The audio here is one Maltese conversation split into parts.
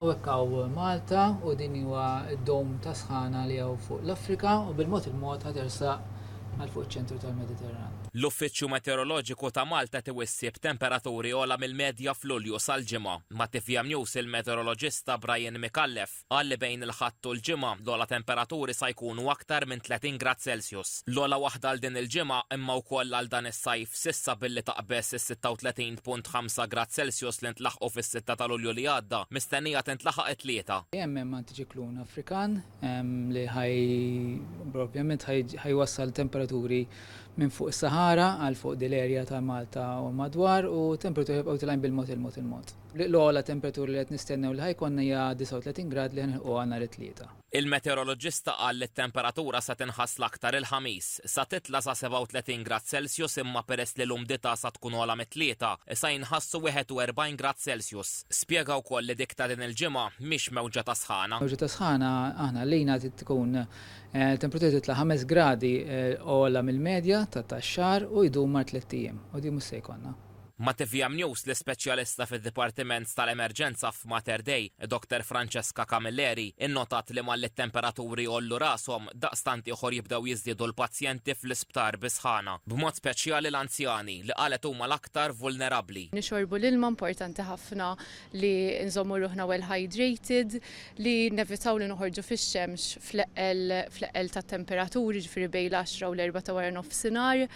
U hekk hawn Malta u din huwa d-dome ta' sħana li hawn fuq l-Afrika u bil-mod il-mod ħa tersaq għal fuq iċ-ċentru tal-Mediterran. L-Uffiċċju Meteoroloġiku ta' Malta tiew is-Sibt temperaturi ogħla mill-medja f'Lulju sal-Ġimgħa. Ma' tvm News il-meteoroloġista Brian Micallef qal li bejn il-Ħadd u l-Ġimgħa l-ogħla temperaturi sa jkunu aktar minn 30 grad Celsius. L-ogħla waħda għal din il-ġimgħa imma wkoll għal dan is-sajf. s'issa billi taqbeż is-36.5 grad Celsius li ntlaħqu fis-sitta ta' Lulju li għadda, mistennija tintlaħaq it-Tlieta. Hemm hemm antiċiklun Afrikan li ħaj ovvjament ħajwassal temperaturi minn fuq is-Sahara għal fuq din l-area ta' Malta u l-madwar u temperaturi ħajibqgħu jitilgħin bil-mod il-mod il-mod. L-ogħla temperaturi li qed nistennew li ħajkollna hija 39 grad li ħa nilħquha nhar it-Tlieta. Il-meteoroloġista qal li t-temperatura se tinħass l-aktar il-Ħamis. Sa titla' sa 37 grad Celsius imma peress li l-umdità sa tkun ogħla mit-tlieta, sa jinħassu 41 grad Celsius. Spjega wkoll li dik ta' din il-ġimgħa mhix mewġa ta' sħana. Mewġa ta' sħana aħna għalina trid tkun temperatura titla' ħames gradi ogħla mill-medja ta' tax-xahar u jdum mar tliet ijiem. U din mhux se jkollna. Ma' tvm News l-ispeċjalista fid-Dipartiment tal-Emerġenza f'Mater Dei, Dr Francesca Camilleri, innotat li malli t-temperaturi jgħollu rashom, daqstant ieħor jibdew jiżdiedu l-pazjenti fl-isptar bi sħana, b'mod speċjali l-anzjani, li qalet huma l-aktar vulnerabbli. Nixorbu l-ilma importanti ħafna li nżommu ruħna well hydrated, li nevitaw li noħorġu fix-xemx fl-eqqel tat-temperaturi, jiġifieri bejn l-għaxra u l-erbgħa ta' wara nofsinhar.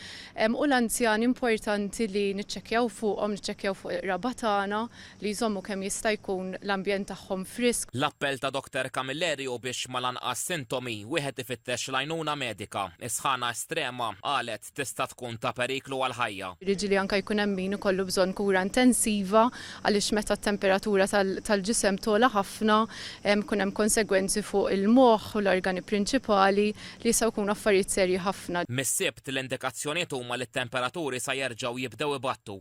U l-anzjani importanti li niċċekkjaw fuqhom, niċċekkjaw fuq il-qraba tagħna, li jżommu kemm jista' jkun l-ambjent tagħhom frisk. L-appell ta' Dottor Camilleri hu biex mal-anqas sintomi, wieħed ifittex l-għajnuna medika. Is-sħana estrema, qalet, fil-fatt tista' tkun ta' periklu għall-ħajja. Jiġifieri anke jkun hemm min ikollu bżonn kura intensiva għaliex meta t-temperatura tal-ġisem togħla ħafna jkun hemm konsegwenzi fuq il-moħħ u l-organi prinċipali li jistgħu jkunu affarijiet serji ħafna. Mis-Sibt, l-indikazzjonijiet huma li t-temperaturi sa jerġgħu jibdew ibattu.